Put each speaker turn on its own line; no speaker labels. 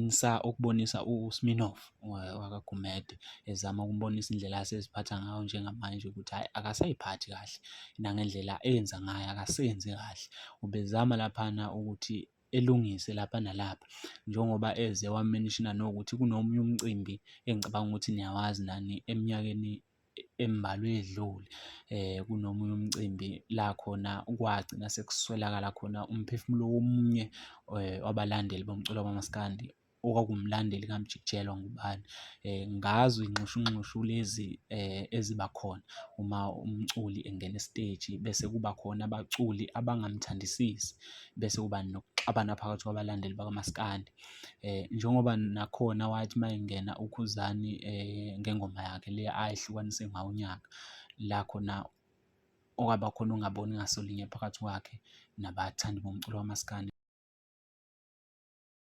ukubonisa ukubonisa uSminoff wakaGumede ezama ukumbonisa indlela aseziphatha ngayo njengamanje ukuthi hhayi akasayiphathi kahle nangendlela enza ngayo akasenzi kahle. Ubezama laphana ukuthi elungise lapha nalapha njengoba eze wamenishina nokuthi kunomunye umcimbi engicabanga ukuthi niyawazi nani eminyakeni embalwa edlule. Kunomunye umcimbi la khona kwagcina sekuswelakala khona umphefumulo womunye wabalandeli bomculo kamaskandi okwakuwumlandeli kaMjik'jelwa ngubani. Ngazo iy'nxushunxushu lezi eziba khona uma umculi engena esiteji bese kuba khona abaculi abangamthandisisi, bese kuba nokuxabana phakathi kwabalandeli bakamaskandi. Njengoba nakhona wathi uma engena uKhuzani ngengoma yakhe le ayehlukanise ngawo unyaka, la khona okwaba khona ukungaboni ngasolinye phakathi kwakhe nabathandi bomculo kamaskandi.